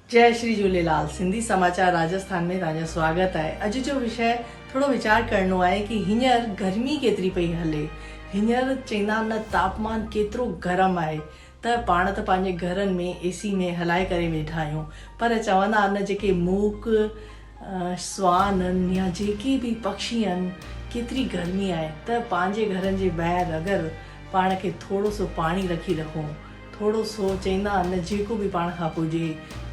جئي شري جهوليلال سنڌي سماچار راجسٿان ۾ توهان جو سواگت آهي اڄ جو وشيه ٿورو ويچار ڪرڻو آهي ڪي هينئر گرمي ڪيتري پئي هلي هينئر چئندا نه تاپمان ڪيترو گرم آهي ته پاڻ ته پنهنجي گهرن ۾ اي سي ۾ هلائي ڪري ويٺا آهيون پر چوندا آهن جيڪي موڪ، سوان آهن يا جيڪي به پکشي آهن ڪيتري گرمي آهي ته پنهنجي گهرن جي ٻاهر اگر پاڻ کي ٿورو سو پاڻي رکي رکون ٿورو سو چئندا آهن جيڪو به پاڻ کان پڄي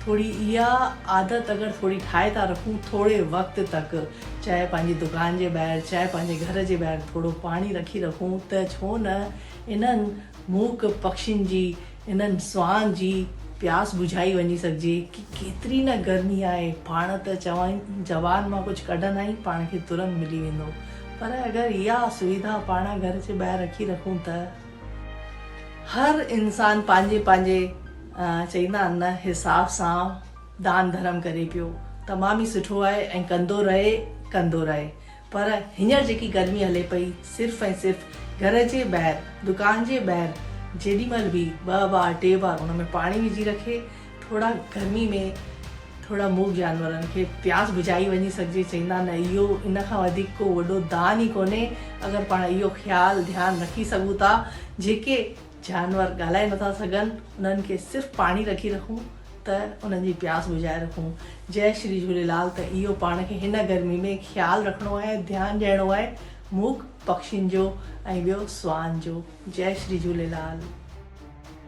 ٿوري اها عادت اگر ٿوري ٺاهي ٿا رکون ٿوري وقت تڪ چاهي پنهنجي دڪان جي ٻاهر چاهي پنهنجي گهر جي ٻاهر ٿورو پاڻي رکي رکون ته ڇو نه انهن موڪ پکين جي انهن سونهن جي پياس بجهائي وڃي سگهجي ڪي ڪيتري نه گرمي آهي پاڻ ته چوائين زبان مان ڪجهه ڪڍندائين پاڻ کي ترنت ملي ويندو پر اگر اها سويڌا پاڻ گهر جي ٻاهر رکي رکون ته هر انسان پنهنجي پنهنجي چئيندا آهن نه حساب سان دان ڌرم ڪري پيو تمام ئي سٺو آهي ۽ ڪندو رهي ڪندو رهي. پر هينئر جيڪي گرمي هلي پئي، صرف ۽ صرف گهر جي ٻاهر، دڪان جي ٻاهر جيڏي مهل به ٻه بار ٽي بار ان ۾ پاڻي وجهي رکي، ٿورا گرمي ۾ ٿورا موڳ جانورن کي پياس بجهائي وڃي سگهجي. چئيندا آهن نه اهو ان کان وڌيڪ ڪو وڏو دان ئي ڪونهي. اگر پاڻ اهو خيال ڌيان رکي سگهون ٿا، جيڪي جانور ڳالهائي نٿا سگهن انهن کي صرف پاڻي رکي رکون ته انهن جي پياس بجهائي رکون جئي شري جهوليلال ته اهو پاڻ کي هن گرمي ۾ خيال رکڻو آهي ڌيان ڏيڻو آهي موک پکشين جو ۽ ٻيو سوان جو جئي شري جهوليلال.